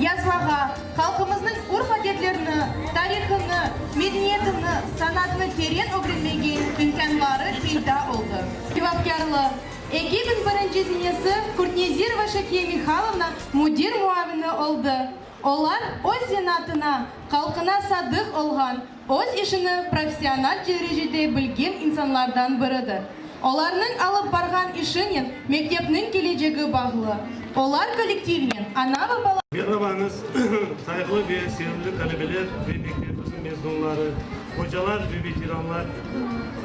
Yazmağa, halqımıznıñ urf-adetlerini, tarihını, medeniyetini, sanatını teren ögrenmege imkânları peyda oldı. Cevapkârlıq, Ekibin birinci zenesi Kurtnezirova Şakiye Mihalovna müdir muavini oldı. Olar öz zenatına, halqına sadıq olğan, Öz işini professional derecede bilgen insanlardan biridir. Olarnıñ alıp barğan işinen mektepniñ kelecegi bağlı. Olar kollektivnen ana ve bala. Merhabañız, sayıqlı ve sevimli talebeler ve mektebimiz mezunları, ocalar ve veteranlar,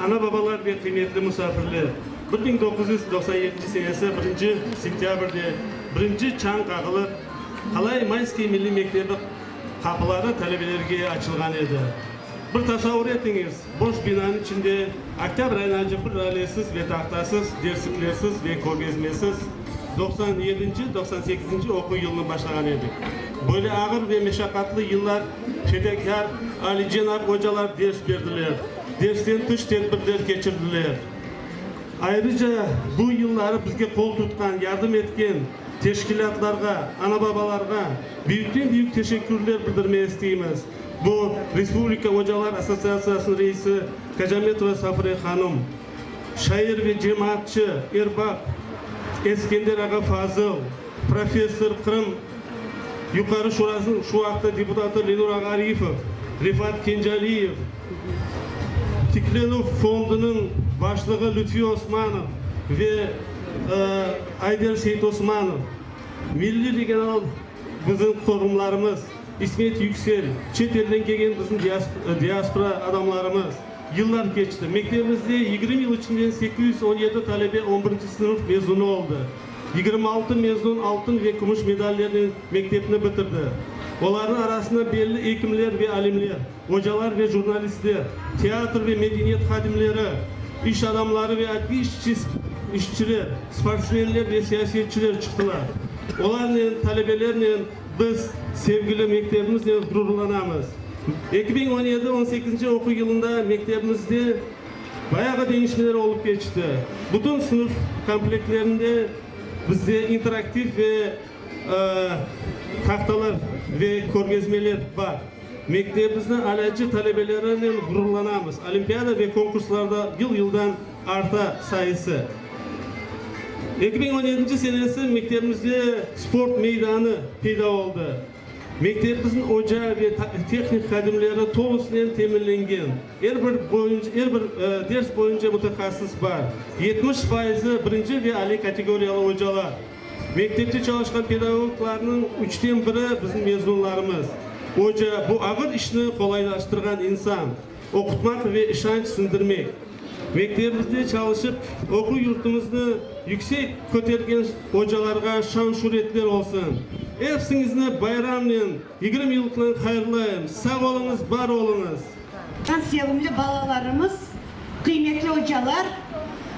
ana-babalar ve qıymetli musafirler! Bir biñ doquz yüz doqsan yedinci senesi birinci sentâbrde birinci çañ qağılıp, Qalay Mayskiy milliy mektebi Qapıları talebelerge açılğan edi. Bir tasavur etiñiz, boş binanıñ içinde oktâbr ayınca bir ralesiz ve tahtasız, dersliklersiz ve körgezmesiz doqsan yedinci, doqsan sekizinci oquv yılını başlağan edik. Böyle ağır ve meşaqatlı yıllar fedakâr, alicenap ocalar ders berdiler, dersten tış tedbirler keçirdiler. Ayrıca bu yılları bizge qol tutqan, yardım etken, Teşkilâtlarğa, ana-babalarğa büyükten-büyük teşekkürler bildirmek isteymiz, bu, Respublika ocalar assotsiatsiyasınıñ reisi Kacametova Safre hanım, şair ve cemaatçı, erbap Eskender ağa Fazıl, professor, Qırım Yuqarı Şurasınıñ şu vaqıtta deputatı Lenur ağa Arifov, Refat Kencaliyev, Tiklenüv fondunıñ başlığı Lütfi Osmanov ve Ayder Seytosmanov, Milliy regional bizim forumlarımız, İsmet Yüksel, çet elden kelgen bizim diaspora adamlarımız. Yıllar keçti. Mektebimizde yigirmi yıl içinden sekiz yüz on yedi talebe on birinci sınıf mezunı oldı. Yigirmi altı mezun altın ve kümüş medallernen mektepni bitirdi. Olarnıñ arasında belli ekimler ve alimler. Ocalar ve jurnalistler, teatr ve medeniyet hadimleri, iş adamları ve adliye işçiler, sportsmenler ve siyasetçiler çıqtılar. Olarnen, talebelernen biz sevgili mektebimiznen ğrurlanamız. Eki biñ on yedi on sekizinci oquv yılında mektebimizde bayağı deñişmeler olıp keçti. Bütün sınıf komplektlerinde bizde interaktiv ve tahtalar ve körgezmeler bar. Mektebimizni alâcı talebelerinen ğururlanamız, olimpiada ve konkurslarda yıl-yıldan arta sayısı. Eki biñ on yedinci senesi mektebimizde sport meydanı peyda oldı. Mektebimizniñ oca ve tehnik hadimleri tolusınen teminlengen, er bir er bir ders boyunca mutahassıs bar, yetmiş fayızı birinci ve aliy kategoriyalı ocalar. Mektepte çalışqan pedagoglarnıñ üçten biri bizim mezunlarımız. Oca, bu ağır işni qolaylaştırğan insan, oqutmaq ve işanç siñdirmek. Mektebimizde çalışıp, oquv yurtumıznı yüksek kötergen ocalarğa şan-şüretler olsun! Epsiñizni bayramnen, yigirmi yıllıqnen hayırlayım! Sağ oluñız, bar oluñız! Sevimli balalarımız, qıymetli ocalar,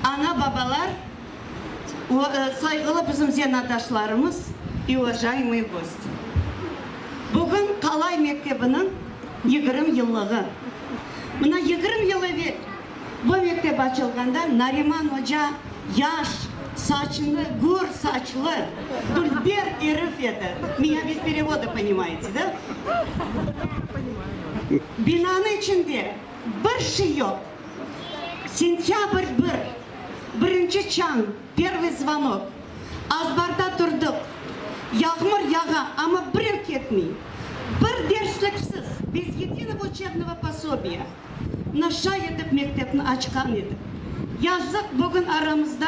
ana-babalar! Sayğılı bizim zenatdaşlarımız i uvajayımıy gosti! Bugün Qalay mektebiniñ yigirm yıllığı. Mına yigirm yıl evel bu mektep açılğanda Nariman oca yaş, saçını gür saçlı, dülber erif edi. Mıya bez perevoda ponimayete, da? Binanıñ içinde bir şey yoq. Sentâbr bir, birinci çañ, pervıy zvanok. Azbarda turdıq. Yağmur yağa, amma birev ketmey. Bir dersliksiz, bez yedinıvo uçebnıvo posobiya. Naşa etip mektepni açqan edik. Yazıq, bugün aramızda.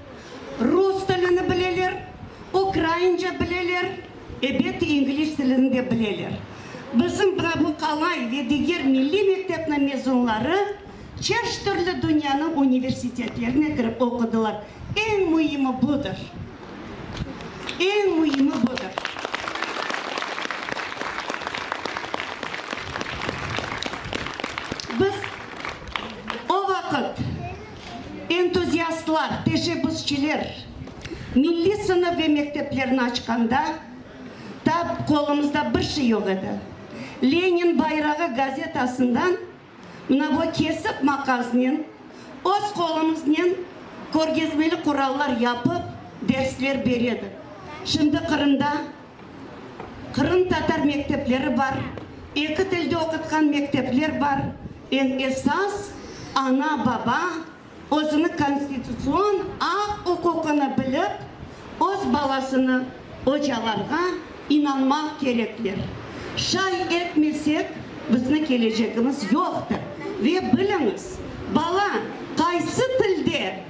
Rus tilini bileler, ukraince bileler, ebet, ingliz tilini de bileler. Bizim Bravukalay ve diger milliy mektepniñ mezunları çeşit türlü dünyanıñ universitetlerine kirip oqudılar. Eñ müimi budır. Eñ müimi budır. Biz o vaqıt. Entuziastlar, teşebbüsçiler milliy sınıf ve mekteplerni açqanda da qolumızda bir şey yoq edi. Lenin bayrağı gazetasından mına bu kesik maqaznen öz qolumıznen körgezmeli qurallar yapıp dersler beredik. Şimdi Qırımda Qırımtatar mektepleri bar, eki tilde oqutqan mektepler bar, eñ esas, ana, baba özüniñ konstitutsion aq-uquqını bilip, öz balasını ocalarğa inanmaq kerekler. Şay etmesek, bizniñ kelecegimiz yoqtır. Ve biliñiz, bala qaysı tilde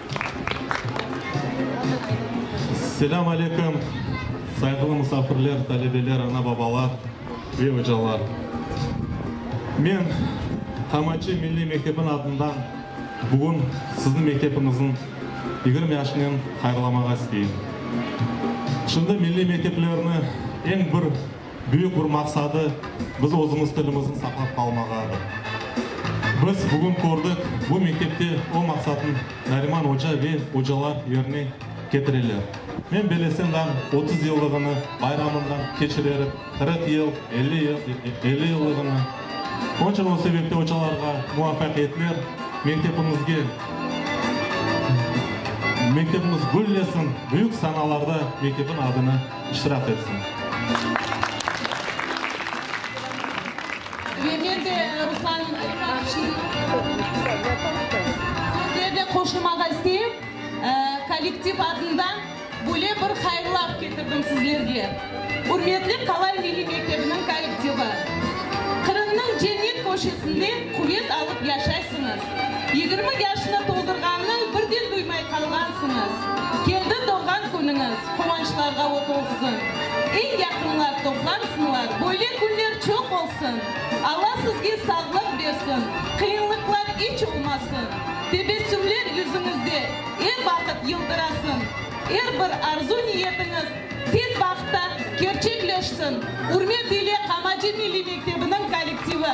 Selâm aleyküm, sayğılı musafirler, talebeler, ana-babalar ve ocalar! Men Qamançı milliy mektebiniñ adından bugün sizni mektebimizniñ yigirmi yaşınen hayırlamağa isteyim. Şimdi milliy mekteplerni eñ bir Büyük bir maqsadı biz özümiz tilimizni saqlap qalmağadır. Biz bugün kördik, bu mektepte o maqsatnı Nariman oca ve ocalar yerine ketireler. Men belesem dam otuz yıllığını bayramından keçirerim, qırıq yıl, elli yıllığını. Onıñ içün o sebepten ocalarğa muvafaqiyetler, mektepimizge, mektepimiz güllesin, büyük sanalarda mektepniñ adını. iştirak etsin. Yerden de Ruslan sözlerine qoşulmağa isteyim. Kollektiv adından böyle bir hayırlı af ketirdim sizlerge. Ürmetli Qalay milliy mektebiniñ kollektivi. Qırımnıñ cennet köşesinde quvet alıp yaşaysıñız. Yigirmi yaşnı toldurğannıñ birden duymay qalğansıñız. Keldi doğğan künüñiz, quvançlarğa o't olsun. Eñ yaqınlar toplansınlar, böyle künler çoq olsun. Alla sizge sağlıq bersin, qıyınlıqlar iç olmasın, tebessümler yüzüñizde er vaqıt yıldırasın, er bir arzu-niyetiñiz Tez vaqıtta kerçekleşsin! Ürmet ile Qamacı milliy mektebiniñ kollektivi!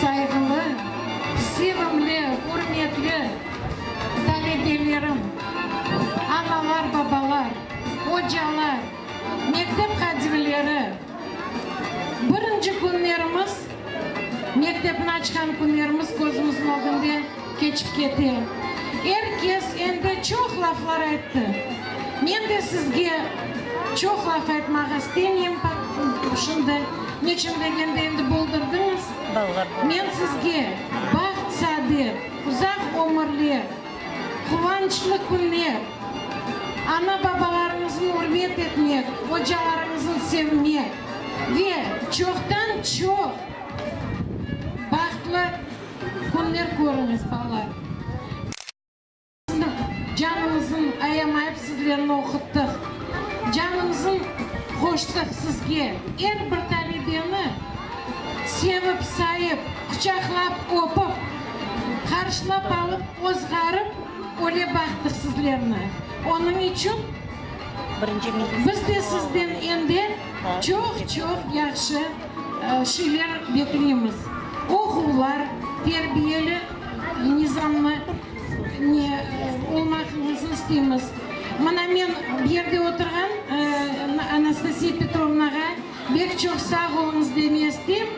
Sayğılı, sevimli, ürmetli talebelerim, analar, babalar, ocalar, mektep qadimleri! Birinci künlerimiz Mektepni açqan künlerimiz közümizniñ ögünde keçip kete. Er kes endi çoq laflar ayttı. Men de sizge çoq laf aytmaq istemeyim, şimdi, neçün degende endi buldırdıñız. Men sizge baht-saadet, uzaq ömürler, Quvançlı künler! Ana-babalarıñıznı ürmet etmek, ocalarıñıznı sevmek ve çoqtan-çoq bahtlı künler körüñiz, balalar! Biz canımızın ayamayıp sizlerni oquttıq, canımızın qoştıq sizge. Er bir talebeni sevip-sayıp, quçaqlap öpip. Qarşılap alıp öz ğarıp öle baqtır sizlerni. Onıñ içün biz de sizden ende çoq-çoq yahşı şeyler bekleymiz. Oquvlar, terbiyeli nizamlı ne olmaqıñıznı isteymiz. Mına men bu yerde oturğan Anastasiya Petrovnağa bek çoq sağ oluñız deme isteyim.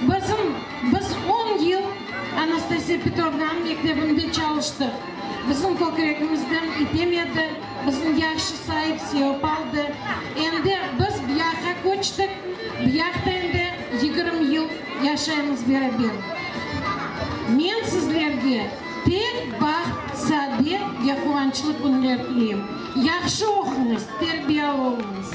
Bizim, biz on yıl Anastasiya Petrovnanıñ mektebinde çalıştıq. Bizim kökregimizden item edi, bizni yahşı sayıp, sevip aldı. Endi biz biyahqa köçtik, biyahta endi yigirmi yıl yaşaymız beraber. Men sizlerge tek baht, saadet ve quvançlı künler tileyim. Yahşı oquñız, terbiyalı oluñız.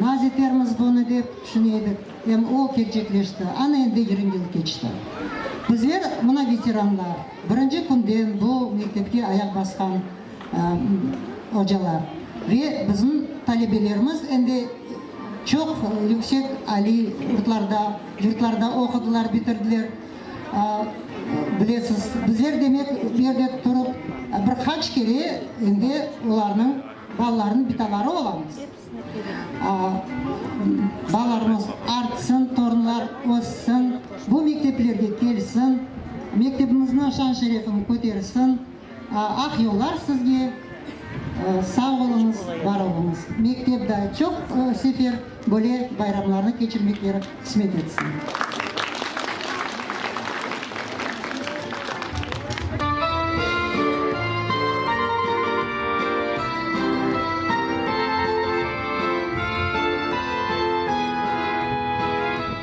Naz etermiz bunı dep tüşüne edik, em o kelcekleşti. Ana endi yirmi yıl keçti. Bizler, mına veteranlar, birinci künden bu mektepke ayaq basqan ocalar ve bizim talebelerimiz endi çoq yüksek aliy yurtlarda, yurtlarda oqudılar, bitirdiler. Bilesiz, bizler demek, bu yerde turıp bir qaç kere endi olarnıñ. Balalarnıñ bitaları olamız. Balalarımız artsın, torunlar össün, bu mekteplerge kelsin, mektebimizniñ şan-şerefini kötersin. Aq yollar sizge! Sağ oluñız, bar oluñız! Mektep da çoq sefer. Böyle bayramlarnı keçirmekleri qısmet etsin.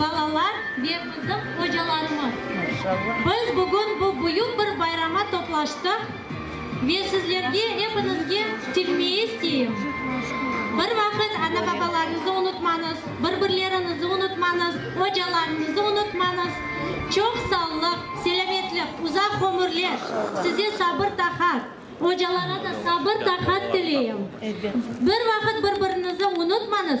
balalar ve bizim ocalarımızdır. Biz bugün bu büyük bir bayrama toplaştıq ve sizlerge epiñizge tilmey isteyim, bir vaqıt ana-babalarıñızı unutmañız, bir-birleriñizi unutmañız, ocalarıñızı unutmañız. Çoq sağlıq, selâmetlik, uzaq ömürler, size sabır-taqat, ocalara da sabır-taqat tileyim. Bir vaqıt bir-birinizi unutmañız.